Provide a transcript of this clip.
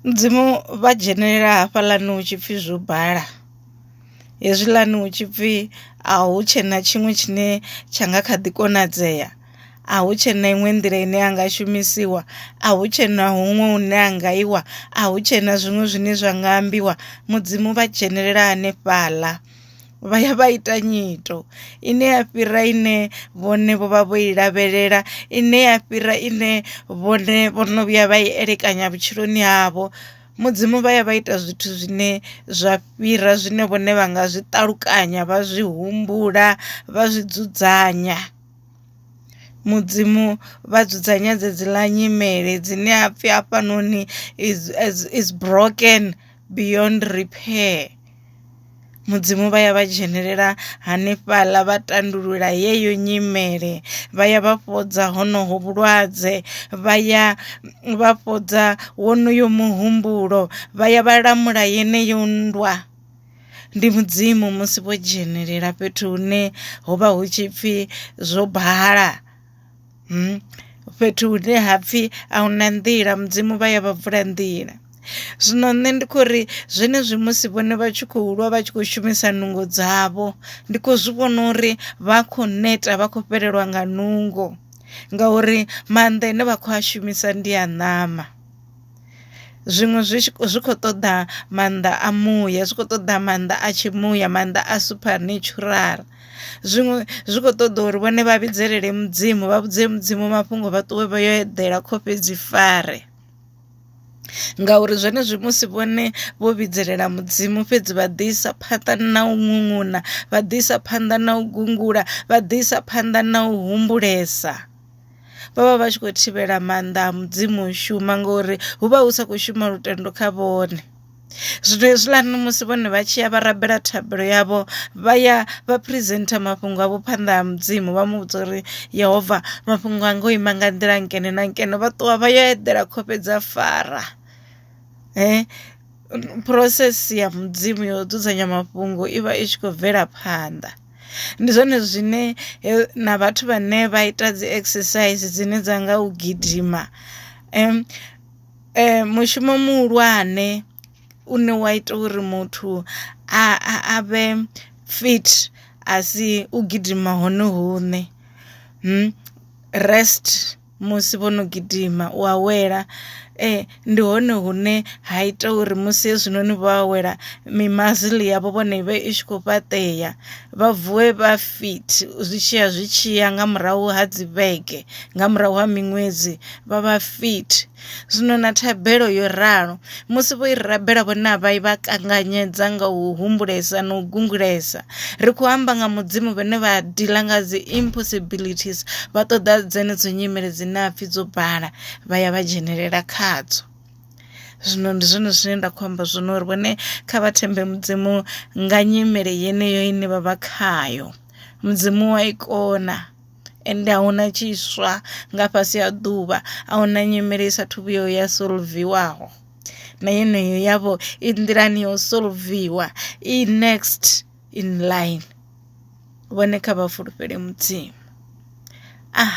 Mudzimu vha dzhenelela hafhaḽani hu tshipfi zwo bala hezwiḽani hu tshipfi a hu tshena tshiṅwe tshine tsha nga kha ḓi konadzea, a hu tshena iṅwe nḓila ine a nga shumisiwa, a hu tshena huṅwe hune ha nga iwa, a hu tshena zwiṅwe zwine zwa nga ambiwa mudzimu vha dzhenelela hanefhaḽa. vha ya vha ita nyito ine ya fhira ine vhone vho vha vho i lavhelela ine ya fhira ine vhone vho no vhuya vha i elekanya vhutshiloni havho mudzimu vha ya vha ita zwithu zwine zwa fhira zwine vhone vha nga zwi ṱalukanya vha zwi humbula vha zwi dzudzanya mudzimu vha dzudzanya dzedzi ḽa nyimele dzine ha pfhi hafhanoni is broken. beyond repair mudzimu vha ya vha dzhenelela hanefhaḽa vha tandulula yeyo nyimele vha ya vha fhodza honoho vhulwadze vha ya vha fhodza wonoyo muhumbulo vha ya vha lamula yeneyo nndwa ndi mudzimu musi vho dzhenelela fhethu hune ho vha hu tshipfi zwo bala. fhethu hune ha pfhi a huna nḓila mudzimu vha ya vha vula nḓila zwino nṋe ndi khou ri zwenezwi musi vhone vha tshi khou lwa vha tshi khou shumisa nungo dzavho ndi khou zwi vhona uri vha khou neta vha khou fhelelwa nga nungo ngauri maanḓa ane vha khou a shumisa ndi a ṋama zwiṅwe zwi zwi khou ṱoḓa maanḓa a muya zwi khou ṱoḓa maanḓa a tshi muya maanḓa a supernatural. zwiṅwe zwi kho ṱoḓa uri vhone vha vhidzelele mudzimu vha vhudze mudzimu mafhungo vha ṱuwe vha yo eḓela khofhe dzi fare ngauri zwenezwi musi vhone vho vhidzelela mudzimu fhedzi vha ḓisa phanḓa na u ṅuṅuna vha ḓisa phanḓa na u gungula vha ḓisa phanḓa na u humbulesa vha vha vha tshi khou thivhela maanḓa a mudzimu u shuma ngori hu vha hu sa khou shuma lutendo kha vhone. Zwino hezwiḽani musi vhone vha tshi ya vha rabela thabelo yavho vha ya vha presenter mafhungo avho phanḓa ha mudzimu vha mu vhudza uri yehova mafhungo anga o ima nga nḓila nkene na nkene vha ṱuwa vha yo eḓela khofhe dza fara eh process ya mudzimu yo dzudzanya mafhungo i vha i tshi khou bvela phanḓa ndi zwone zwine na vhathu vhane vha ita dzi exercise dzine dza nga u gidima Mushumo muhulwane une wa ita uri muthu a a vhe fit a si u gidima hone huṋe rest musi vho no gidima u awela ndi hone hune ha ita uri musi hezwinoni vho awela mi muscle yavho vhone i vhe i tshi khou fhaṱeya vha vuwe vha fit zwi tshiya zwi tshiya nga murahu ha dzi vhege nga murahu ha miṅwedzi. vha vha fit zwino na thabelo yo ralo musi vho i rabela vhone a vha i vha kanganyedza nga u humbulesa na u gungulesa ri khou amba nga mudzimu vhane vha dila nga dzi impossibilities vha ṱoḓa dzenedzo nyimele dzine a pfhi dzo bala vha ya vha dzhenelela khadzo zwino ndi zwone zwine nda khou amba zwino uri vhone kha vha thembe mudzimu nga nyimele yeneyo ine vha vha khayo mudzimu wa i kona ende a huna tshiswa nga fhasi ha ḓuvha a huna nyimele i sathu vhuyo ya solviwaho na yeneyo yavho i nḓilani ya u solviwa i next in line vhone kha vha fulufhele mudzimu ah